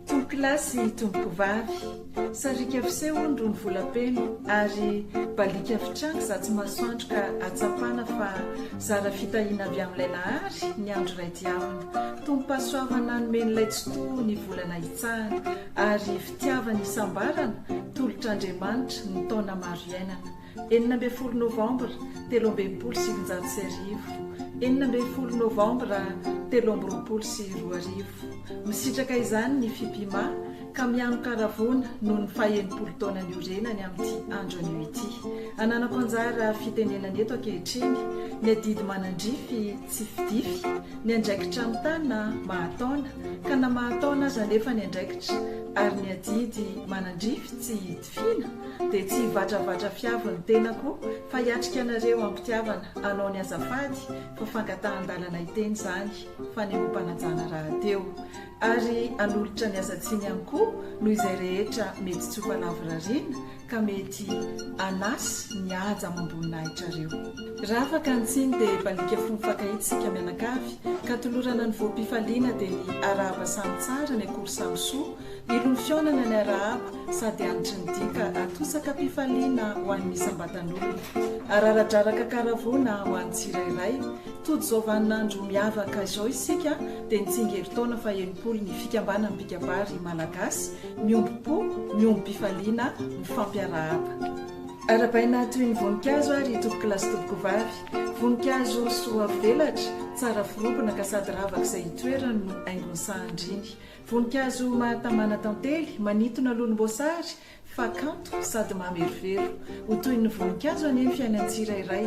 Tompokolahy sy tompokovavy, sariaka fiseho hono irony volam-peno ary baliaka fitranga izaho tsy masoandro ka ahatsapana fa zara fitahiana avy amin'ilay Nahary ny andro iray dia aminy. Tompom-pahasoavana nomen'ilay Tsitoha ny volana hitsahana. Ary fitiavana isambarana, tolotr'Andriamanitra, ny taona maro iainana. Enina ambin'ny folo novambra telo amby enimpolo sy sivinjato sy arivo. Enina ambin'ny folo novambra telo amby roapolo sy roa arivo. Misitraka izany ny Fipima ka mihanon-karavona noho ny fahenimpolo taona niorenany amin'ity andro anio ity. Ananako anjara fitenenana eto ankehitriny ny adidy manandrify tsy fidify, Ny andraikitra mitana mahataona, ka na mahataona aza anefa ny andraikitra, ary ny adidy manandrify tsy hidifina, dia tsy hivatravatra fiavo ny tenako, fa hiatrika anareo am-pitiavana, hanao ny azafady fa fangatahan-dalana hiteny izany, fanehoam-panajana rahateo. Ary hanolotra ny asan-tsiny ihany koa noho izay rehetra mety tsy ho falavorariana, ka mety anas ny haja amam-boninahitra reo. Raha afaka ny tsiny dia balika fo mifankahita isika mianakavy ka tolorana ny voam-pifaliana dia ny arahaba samy tsara ny akory samy soa ilon'ny fihaonana ny arahaba sady anitry ny dika atosaka mpifaliana ho an'ny isam-batan'olona araradraraka karavoana ho an'ny tsirairay tojo izao vanin'andro miavaka izao isika dia nitsingerin-taona faha enimpolo ny fikambanan'ny mpikabary malagasy Miombom-po, miombom-pifaliana, mifampiarahaba. Arabaina toy ny voninkazo ary i Tompokolahy sy Tompokovavy. Voninkazo soa velatra, tsara forobina ka sady ravak'izay itoerany no haingon'ny sahan-driny. Voninkazo mahatamana tantely, manintona lonom-boasary fa kanto sady mamerovero. Ho toy ny voninkazo anie ny fiainan'ny tsirairay.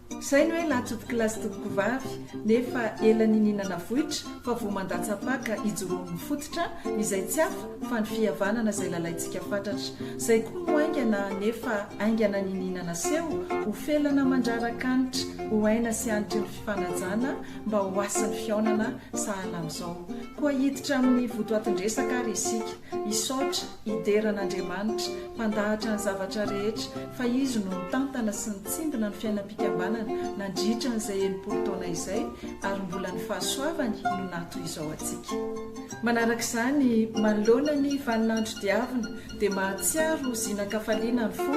Zay no hoe latchop class tompoko vavy nefa ela nininana voitra fa vo mandatsapaka ijoroan'ny fototra izay tsy hafa fa ny fihavanana zay lalaintsika fatratra zay koa no aingana nefa aingana nininana seho ho felana mandrarakanitra ho aina sy anitry ny fifanajana mba ho hasin'ny fihaonana sahala amzao koa hiditra amin'ny votoatindresaka ary isika isaotra Hidera an'Andriamanitra, Mpandahatra ny zavatra rehetra, fa Izy no nitantana sy nitsimbina ny fiainam-pikambanana nandritra an'izay enimpolo taona izay, ary mbola ny fahasoavany no natoy izao antsika. Manaraka izany, manoloana ny vaninandro diavina, dia mahatsiaro ho zinan-kafaliana ny fo,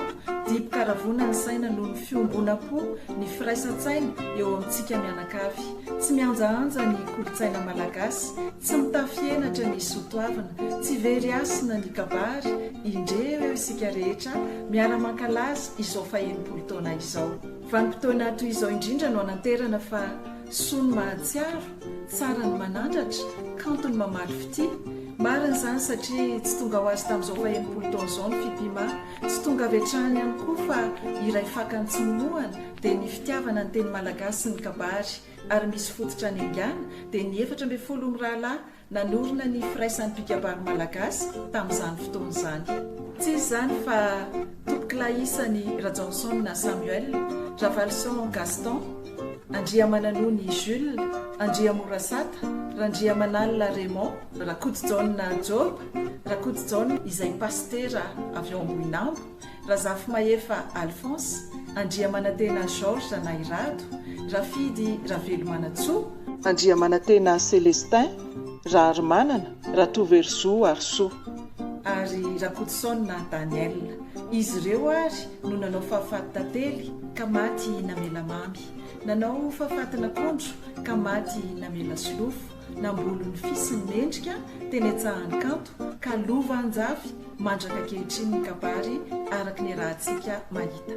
dibo-karavona ny saina noho ny fiombonam-po, ny firaisan-tsaina eo amintsika mianakavy. Tsy mihanjahanja ny kolontsaina malagasy, tsy mitafy henatra ny soatoavina, tsy very hasina ny kabary, indreo eo isika rehetra miara mankalaza izao fahenimpolo taona izao. Vanim-potoana toy izao indrindra no hananterana fa soa ny mahatsiaro, tsara ny manandratra, kanto ny mamaly fitia. Marina izany satria tsy tonga ho azy tamin'izao fahenimpolo taona izao ny fitia mah, tsy tonga avy hatrany ihany koa fa iray fakany tsy minohana, dia ny fitiavana ny teny malagasy sy ny kabary ary misy fototra any Engana dia ny efatra ambin'ny folo mirahalahy nanorina ny firaisan'ny mpikabary malagasy tamin'izany fotoana izany. Tsy iza izany fa Tompokolahy isany Rajaonson Samuel, Ravalison Gaston, Andriamananony Jules, Andriamorasata, Randriamanalina Raymond, Rakotojaona Job, Rakotojaona izay pasitera avy ao Ambohinambo, Razafimahefa Alphonse, Andriamanantena Georges na i Rado, Rafidy Ravelomanantsoa, Andriamanantena Celestin, Raharimanana, Ratoverozoa Harisoa. Ary Rakotosaona Daniel. Izy ireo ary no nanao fahafaty tantely ka maty namela mamy. Nanao fahafatin'akondro ka maty namela solofo. Nambolony fisy ny mendrika teny Antsahaninkanto ka lova an-jafy mandraka ankehitriny ny kabary araka ny arahantsika mahita.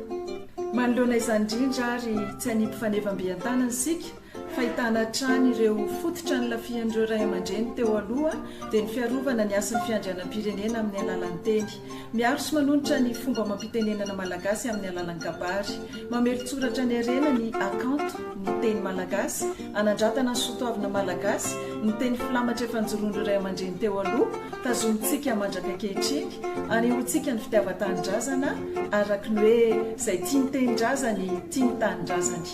Manoloana izany indrindra ary tsy hanipy faneva am-bean-tanana isika fa hitana hatrany ireo fototra nilafihan'ireo Ray aman-dReny teo aloha dia ny fiarovana ny hasin'ny fiandrianam-pirenena amin'ny alalan'ny teny. Miaro sy manonitra ny fomba amam-pitenenana malagasy amin'ny alalan'ny kabary. Mamelon-tsoratra ny harena ny hakanto, ny teny malagasy, hanandratana ny soatoavina malagasy, ny teny filamatra efa nijoroan'ireo ray aman-dreny teo aloha, tazomintsika mandraka ankehitriny, anehoantsika ny fitiavan-tanindrazana araka ny hoe izay tia ny tenindrazany, tia ny tanindrazany.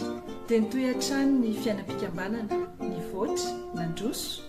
Dia nitohy hatrany ny fiainam-pikambanana, nivoatra, nandroso.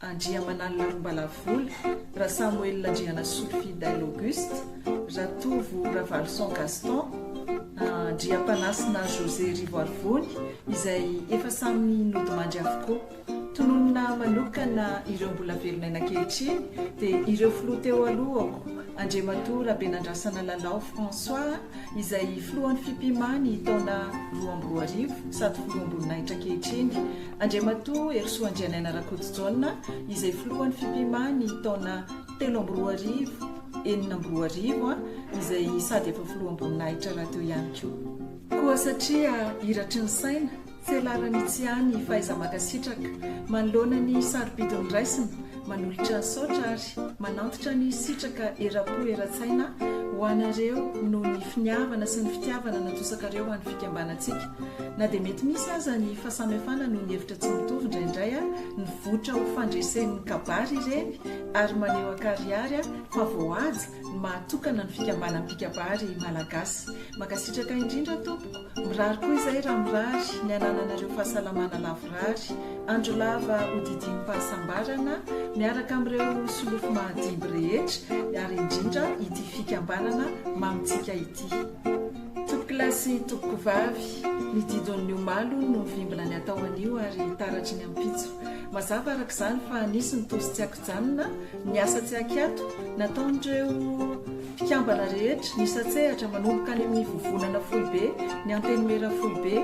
Andriamanalina Rombalavola, Rasamoelina Andrianasolo Fidèle Auguste, Ratovo Ravalison Gaston, Andriampanasina José Rivoarivony izay efa samy nodimandry avokoa. Tononina manokana ireo mbola velon'aina ankehitriny dia ireo filoha teo alohako, Andriamatoa Rabenandrasana Lalao François izay filohan'ny Fipima ny taona roa amby roa arivo sady filoham-boninahitra ankehitriny, Andriamatoa Herisoa Andrianaina Rakotojaona izay filohan'ny Fipima ny taona telo amby roa arivo, enina amby roa arivo, izay sady efa filoham-boninahitra rahateo ihany koa. Koa satria iratry ny saina, felaran'ny tsy hany fahaiza-mankasitraka manoloana ny sarobidy noraisina, manolotra ny saotra ary manantitra ny sitraka eram-po eran-tsaina ho anareo noho ny finiavana sy ny fitiavana natosakareo ho an'ny fikambanantsika. Na dia mety misy aza ny fahasamihafana noho ny hevitra tsy mitovy indraindray, nivoitra ho fandresen'ny kabary ireny ary maneho an-karihary fa voahaja ny maha tokana ny fikambanam-pikabary malagasy. Mankasitraka indrindra tompoko, mirary koa izay raha mirary ny hanananareo fahasalamana lavorary, andro lava hodidiam-pahasambarana miaraka amin'ireo solofo mahadimby rehetra ary indrindra ity fikambanana mamintsika ity. Tompokolahy sy tompokovavy, ny didon'ny omaly hono no mivimbina ny atao anio ary taratry ny ampitso. Mazava araka izany fa nisy ny tozo tsy ankijanona, ny asa tsy ankiato, nataon'ireo mpikambana rehetra, nisatsehatra, manomboka any amin'ny vovonana foibe, ny antenimiera foibe,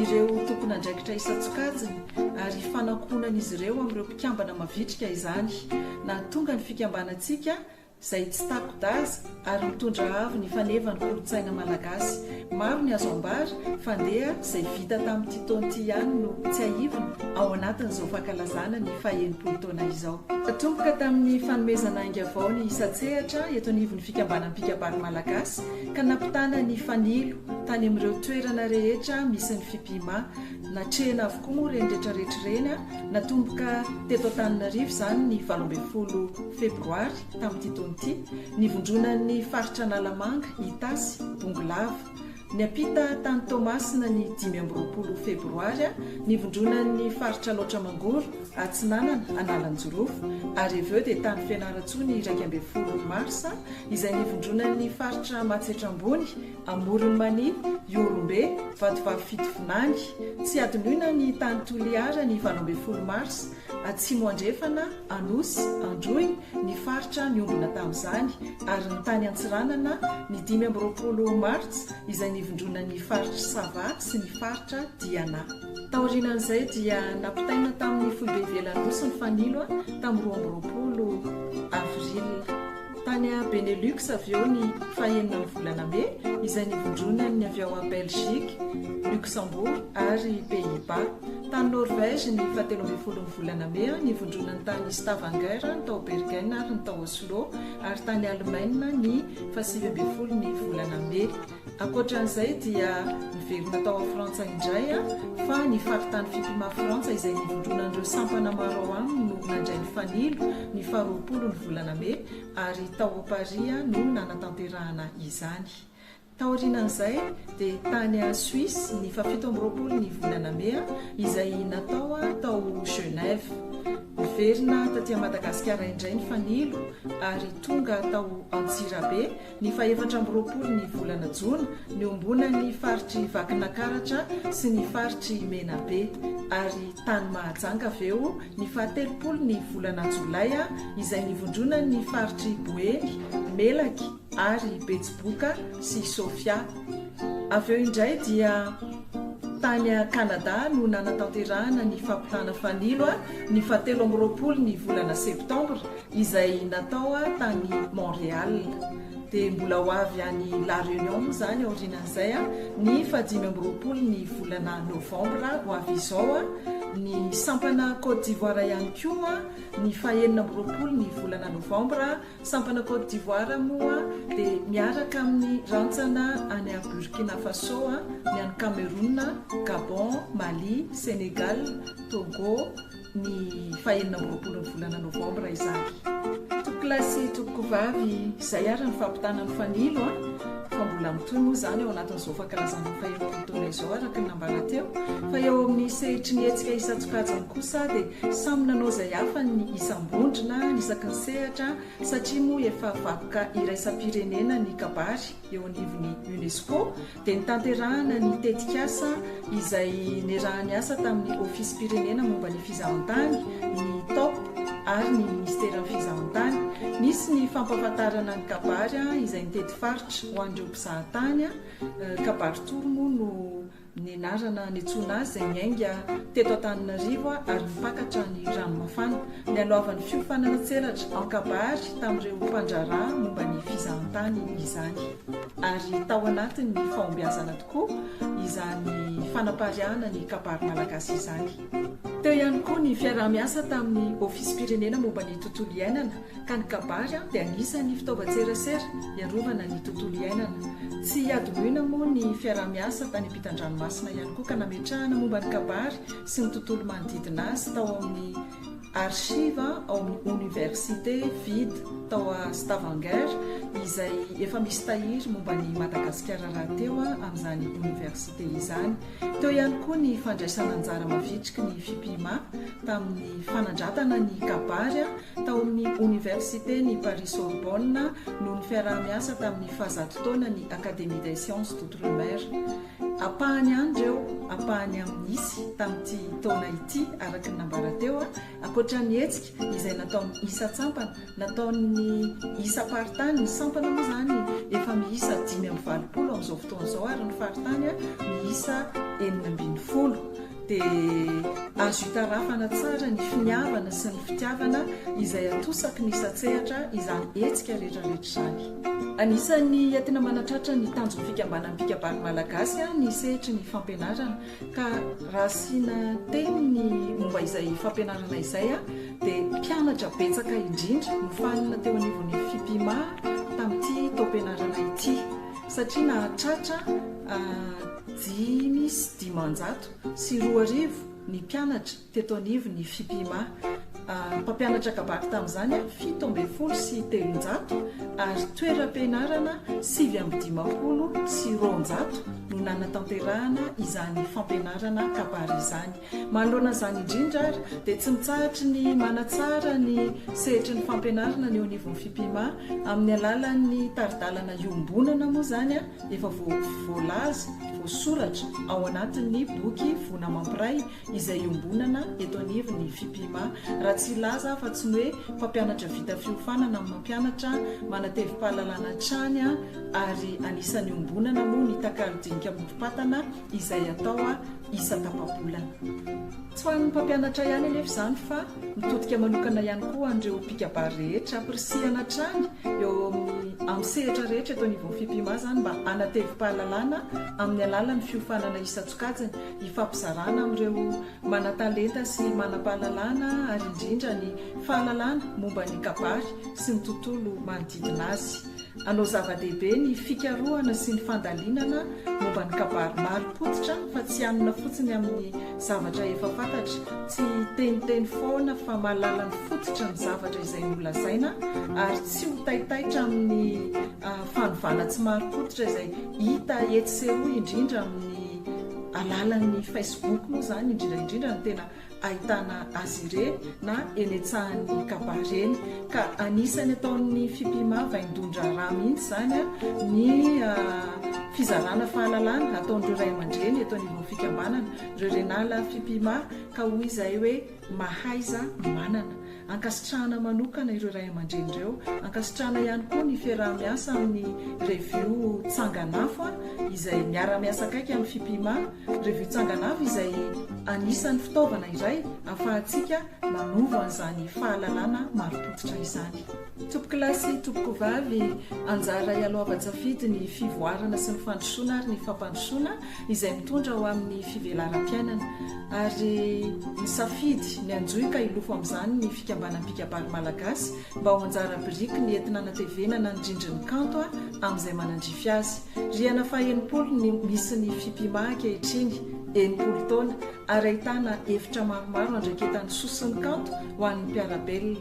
ireo tompon'andraikitra isan-tsokajiny, ary ifanankohonan'izy ireo amin'ireo mpikambana mavitrika izany, nahatonga ny fikambanantsika izay tsy tako-daza ary mitondra avo ny faneva ny kolontsaina malagasy. Maro ny azo ambara fa ndeha izay vita tamin'ity taona ity ihany no tsiahivina ao anatin'izao fankalazana ny fahenimpolo taona izao. Natomboka tamin'ny fanomezana ainga vao ny isan-tsehatra eto anivon'ny fikambanan'ny mpikabary malagasy ka nampitana ny fanilo tany amin'ireo toerana rehetra misy ny Fipima. Natrehina avokoa moa ireny retraretra ireny a! Natomboka teto Antananarivo izany ny valo ambin'ny folo febroary tamin'ity taona ity, nivondronan'ny faritra Analamanga, Itasy, Bongolava. Niampita tany Toamasina ny dimy amby roapolo febroary a, nivondronan'ny faritra Alaotra Mangoro, Atsinanana, Analanjirofo. Ary avy eo dia tany Fianarantsoa ny iraika ambin'ny folo marsa izay nivondronan'ny faritra Matsiatra Ambony, Amoron'i Mania, Ihorombe, Vatovavy Fitovinany, tsy hadinoina ny tany Toliara ny valo ambin'ny folo marsa, Atsimo Andrefana, Anosy, Androy, ny faritra niombona tamin'izany, ary ny tany Antsiranana, ny dimy amby roapolo martsa, izay nivondronan'ny faritr'i Sava sy ny faritra Diana. Taorianan'izay dia nampitaina tamin'ny foibe ivelan'ny Nosy ny Fanilo, tamin'ny roa amby roapolo avril. Tany Benelux avy eo ny fahenina ny volana Mey izay nivondronan'ny avy ao Belgique, Luxembourg ary Pays-Bas. Tany Norvège ny fahatelo ambin'ny folo ny volana Mey nivondronan'ny tany Stavanger, ny tao Bergen ary ny tao Oslo ary tany Allemagne ny fahasivy ambin'ny folo ny volana Mey. Ankoatran'izay dia niverina tao a Frantsa indray aho fa ny faritany Fipima Frantsa izay nivondronan'ireo sampana maro ao aminy no nandray ny fanilo ny faha roapolo ny volana Mey ary tao a Paris aho no nanatanterahana izany. Taorianan'izay dia tany a Suisse ny faha fito amby roapolo ny volana Mey izay natao aho tao Genève. Niverina taty a Madagasikara indray ny fanilo ary tonga tao Antsirabe Ny fahefatra amby roapolo ny volana jona, niombona ny faritr'i Vakinakaratra sy ny faritr'i Menabe, ary tany Mahajanga avy eo ny fahatelopolo ny volana jolay, izay nivondronan'ny faritr'i Boeny, Melaky ary Betsiboka sy Sofia. Avy eo indray dia tany Kanada no nanatanterahana ny fampitana fanilo, ny fahatelo amby roapolo ny volana septambra, izay natao tany Montréal dia mbola ho avy any La Réunion moa izany aorianan'izay ny faha dimy amby roapolo ny volana novambra ho avy izao ny sampana Côte d'Ivoire ihany koa ny faha enina amby roapolo ny volana novambra sampana Côte d'Ivoire moa dia miaraka amin'ny rantsana any à Burkina Faso ny any Cameroun Gabon Mali Sénégal Togo ny faha enina amby roapolo ny volana novambra izany. Tompoko lahy sy tompoko vavy, izay ary ny fampitana ny fanilo an! fa mbola mitohy moa izany ao anatin'izao fankalazana ny faheloka amin'ny taona izao araka ny nambara teo fa eo amin'ny sehitry ny hetsika isan-tsokajiny kosa dia samy nanao izay hafa ny isam-bondrona ny isaky ny sehatra satria moa efa vakoka iraisam-pirenena ny kabary eo anivon'ny UNESCO dia nitanterahana ny tetikasa izay niarahan'ny asa tamin'ny Ofisim-pirenena momba ny Fizahantany, ny top, ary ny Minisiteran'ny Fizahantany. Nisy ny fampahafantarana ny kabary izay nitety faritra ho an'ireo mpizaha tany. Kabary tour moa no nenarana niantsoana azy izay niainga teto Antananarivo ary nipakatra ny Ranomafana. Nialohavan'ny fiofanana tselatra an-kabary tamin'ireo mpandraharaha momba ny Fizahantany izany. ary tao anatin'ny fahombiazana tokoa izany fanapariahana ny kabary malagasy izany. Teo ihany koa ny fiaraha-miasa tamin'ny Ofisim-pirenena momba ny tontolo iainana ka ny kabary dia anisan'ny fitaovan-tserasera hiarovana ny tontolo iainana. Tsy hadinoina moa ny fiaraha-miasa tany ampitan-dranomasina ihany koa ka nametrahana momba ny kabary sy ny tontolo manodidina azy tao amin'ny archive ao amin'ny Oniversite vide tao a Stavanger izay efa misy tahiry momba an'i Madagasikara rahateo amin'izany Oniversite izany. Teo ihany koa ny fandraisana anjara mavitriky ny Fipima tamin'ny fanandratana ny kabary tao amin'ny Oniversiten'i Paris-Sorbonne noho ny fiaraha-miasa tamin'ny fahazato taonan'ny Académie des Sciences d'Outre-mer. Ampahany ihany ireo ampahany amin'ny nisy tamin'ity taona ity, araka ny nambara teo, ankoatra ny hetsika izay nataon'ny isan-tsampana, nataon'ny isam-paritany, ny sampana moa izany efa miisa dimy amby valopolo amin'izao fotoana izao ary ny faritany miisa enina ambin'ny folo. dia azo itarafana tsara ny finiavana sy ny fitiavana izay atosaky ny satsehatra izany hetsika rehetrarehetra izany. Anisan'ny entina manatratra ny tanjon'ny fikambanam-pikabary malagasy ah, ny sehatry ny fampianarana ka raha asiana teny ny momba izay fampianarana izay ah, dia mpianatra betsaka indrindra nofanina teo anivon'ny fipima tamin'ity taom-pianarana ity satria nahatratra ah, Dimy sy dimanjato sy roa arivo ny mpianatra teto anivon'ny Fipima. Mpampianatra kabary tamin'izany fito ambin'ny folo sy telonjato ary toeram-pianarana sivy amby dimampolo sy roanjato no nanatanterahana izany fampianarana kabary izany. Manoloana izany indrindra ary dia tsy mitsahatry ny manatsara ny sehatry ny fampianarana ny eo anivon'ny Fipima amin'ny alalan'ny tari-dalana iombonana moa izany efa voalaza, voasoratra, ao anatin'ny boky Vona Mampiray izay iombonana eto anivon'ny Fipima, raha tsy hilaza aho fa tsy ny hoe mpampianatra vita fiofanana no mampianatra, manatevim-pahalalana hatrany ary anisan'ny iombonana moa ny takalo dinika morom-patana, izay atao isan-tapa-bolana. Tsy ho an'ny mpampianatra ihany anefa izany fa mitodika manokana ihany koa ho an'ireo mpikabary rehetra ampirisihana hatrany eo amin'ny sehatra rehetra eto anivon'ny Fipima izany mba hanatevi-pahalalana amin'ny alalan'ny fiofanana isan-tsokajiny hifampizarana amin'ireo manan-talenta sy manam-pahalalana ary indrindra ny fahalalana momba ny kabary sy ny tontolo manodidina azy. Anao zava-dehibe ny fikarohana sy ny fandalinana momba ny kabary marim-pototra fa tsy hanona fotsiny amin'ny zavatra efa fantatra, tsy hiteniteny foana fa mahalala ny fototra ny zavatra izay nolazaina ary tsy ho taitaitra amin'ny fanovana tsy marim-pototra izay hita etsy sy eroa indrindra amin'ny alalan'ny Facebook moa izany indrindra indrindra no tena ahitana azy ireny na eny an-tsahan'ny kabary eny. Ka anisan'ny ataon'ny FIPIMA vaindohan-draharaha mihitsy izany ny fizarana fahalalana ataon'ireo ray aman-dreny eto anivon'ny fikambanana, ireo Renala FIPIMA, ka hoy izahay hoe mahaiza manana. Ankasitrahana manokana ireo ray aman-dreny ireo. Ankasitrahana ihany koa ny fiaraha-miasa amin'ny Revio Tsanganafo izay miara-miasa akaiky amin'ny Fipima. Revio Tsanganafo izay anisan'ny fitaovana iray ahafahantsika manova an'izany fahalalana marim-pototra izany. Tompokilasy, Tompokovavy, anjara ialoavan-tsafidy ny fivoarana sy ny fandrosoana ary ny fampandrosoana izay mitondra ho amin'ny fivelaram-piainana, ary nisafidy ny hanjohika hilofo amin'izany ny Fikambanan'ny Mpikabary Malagasy mba ho anjara biriky ny entina hanatevenana ny rindrin'ny kanto amin'izay manandrify azy. Rihana fahenimpolo ny misy ny Fipima ankehitriny, enimpolo taona, ary ahitana efitra maromaro andraiketan'ny soson'ny kanto ho an'ny mpiara-belona.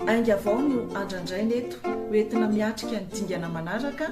Ainga vao no andrandraina eto, ho entina miatrika ny dingana manaraka,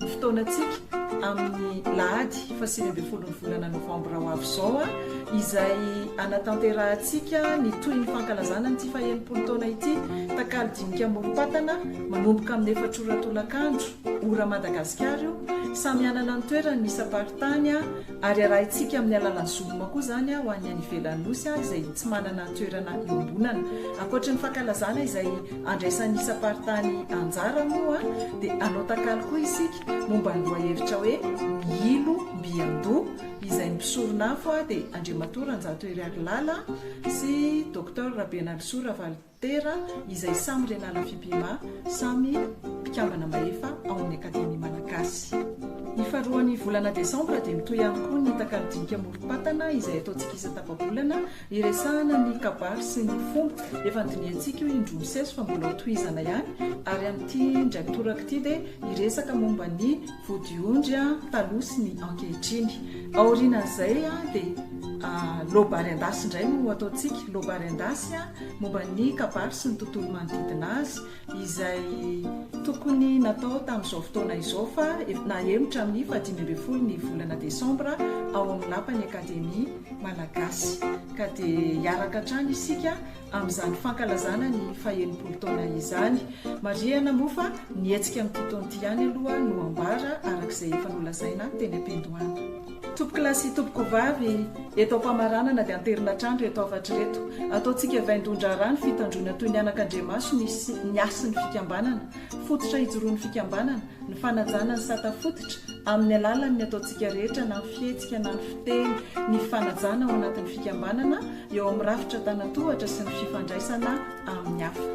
fotoanantsika amin'ny lahady fahasivy ambin'ny folon'ny volana novambra ho avy izao izay anatanterahantsika ny tohin'ny fankalazana an'ity fahenimpolo taona ity takalo dinika morom-patana manomboka amin'ny efatrora tolakandro ora madagasikara io samy hanana ny toerany ny isam-paritany Ary arahintsika amin'ny alalan'ny zoloma koa izany ho an'ny any ivelan'ny Nosy izay tsy manana toerana iombonana. Ankoatry ny fankalazana izay andraisan'ny isam-paritany anjara moa dia hanao takalo koa isika momba ny lohahevitra hoe Mihilo mby an-doha izay ny mpisoron'afo dia Andriamatoa Ranjato Heriarilala sy Doctor Rabenalisoa Ravalo Tera, izay samy renala Fipima, samy mpikambana mahefa ao amin'ny Akademia Malagasy. Ny faharoan'ny volana desambra dia mitohy ihany koa ny takalo dinika amorom-patana izay ataontsika isa-tapa-bolana iresahana ny kabary sy ny fomba. Efa nodinihantsika io indroa miseso fa mbola hotohizana ihany ary amin'ity indray mitoraka ity dia hiresaka momba ny vodiondry taloha sy ny ankehitriny. Aorianan'izay dia ah, lobary an-dasy indray no ataontsika, lobary an-dasy. momba ny kabary sy ny tontolo manodidina azy izay tokony natao tamin'izao fotoana izao fa efa nahemotra amin'ny fahadimy ambin'ny folo ny volana desambra ao amin'ny lapan'ny Akademia Malagasy ka dia hiaraka hatrany isika amin'izany fankalazana ny fahenimpolo taona izany. Marihana moa fa ny hetsika amin'ity taona ity ihany aloha no ambara araka izay efa nolazaina teny am-piandohana. Tompokolahy sy tompokovavy, eto am-pamaranana dia anterina trandro ireto hafatra ireto. Ataontsika vaindohan-draharaha ny fitandroana toy ny anakandriamaso ny ny hasin'ny fikambanana. Fototra hijoroan'ny fikambanana, ny fanajana ny sata fototra, amin'ny alalan'ny ataontsika rehetra na ny fihetsika na ny fiteny, ny fanajana ao anatin'ny fikambanana, eo amin'ny rafitra an-tanan-tohatra sy ny fifandraisana amin'ny hafa.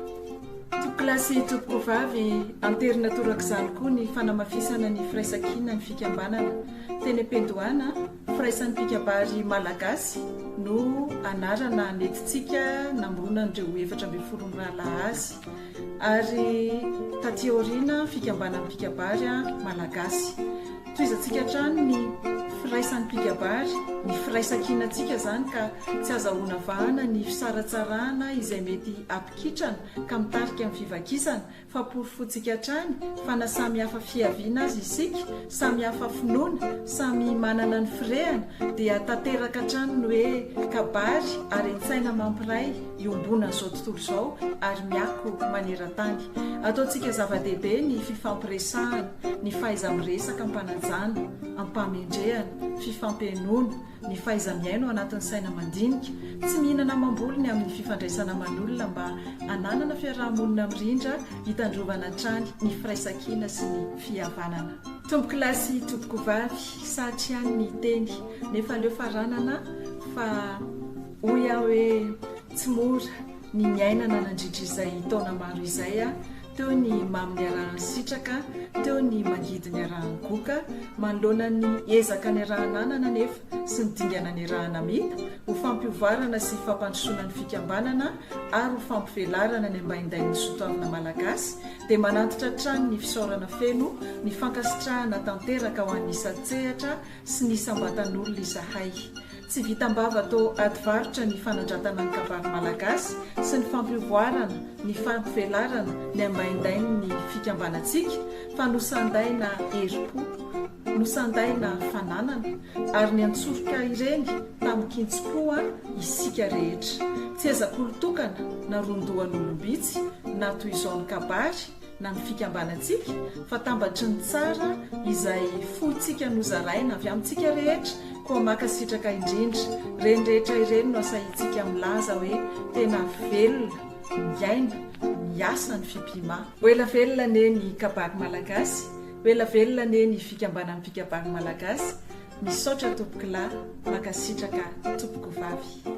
Tompokolahy sy tompokovavy, anterina torak'izany koa ny fanamafisana ny firaisan-kinan'ny fikambanana. Fenepedoana, Firaisan'ny mpikabary malagasy no anarana nentintsika namoronana an'ireo efatra ambin'ny folo mirahalahy azy. Ary taty aoriana, Fikambanan'ny mpikabary malagasy. Tohizantsika hatrany ny firaisan'ny mpikabary, ny firaisankinantsika izany ka tsy azahoana vahana ny fisaratsarahana izay mety hampikitrana ka mitarika amin'ny fivakisana. fa porofontsika hatrany fa na samy hafa fiaviana aza isika, samy hafa finoana, samy manana ny firehana, dia tanteraka hatrany ny hoe kabary ary an-tsaina mampiray iombonana izao tontolo izao ary miako maneran-tany. Ataontsika zava-dehibe ny fifampiresahana, ny fahaiza-miresaka am-panajana, am-pamendrehana, fifampihenoana, Ny fahaiza-mihaino ao anatin'ny saina mandinika, tsy mihinana amam-bolo ny amin'ny fifandraisana aman'olona mba hananana fiaraha-monina mirindra hitandrovana hatrany ny firaisankina sy ny fihavanana. Tompoko lahy sy tompoko vavy, sahatry ihany ny hiteny, nefa aleo faranana fa hoy aho hoe tsy mora ny niainana nandritra izay taona maro izay. Teo ny mamo niarahan'ny sitraka, teo ny mangidy niarahan'ny goka, manoloana ny ezaka niaraha-nanana anefa sy ny dingana niaraha-namita, ho fampiovarana sy fampandrosoana ny fikambanana ary ho fampivelarana ny ambaindain'ny sotoavina malagasy dia manantitra hatrany ny fisaorana feno, ny fankasitrahana tanteraka ho an'ny isan-tsehatra sy ny isam-batan'olona izahay. Tsy vitam-bava to ady varotra ny fanandratana ny kabary malagasy sy ny fampiovoarana ny fampivelarana ny ambaindain'ny fikambanantsika fa nosandaina herim-po, nosandaina fananana ary niantsoroka ireny tamin-kintsi-koa isika rehetra. Tsy ezak'olon-tokana na ron-dohan'olom-bitsy na toy izao ny kabary, na ny fikambanantsika fa tambatry ny tsara izay fointsika nozaraina avy amintsika rehetra, koa mankasitraka indrindra, ireny rehetra ireny no asahintsika milaza hoe tena velona, miaina, miasa ny Fipima. Ho ela velona anie ny kabary malagasy, ho ela velona anie ny fikambanan'ny mpikabary malagasy, misaotra tompokolahy, mankasitraka tompokovavy.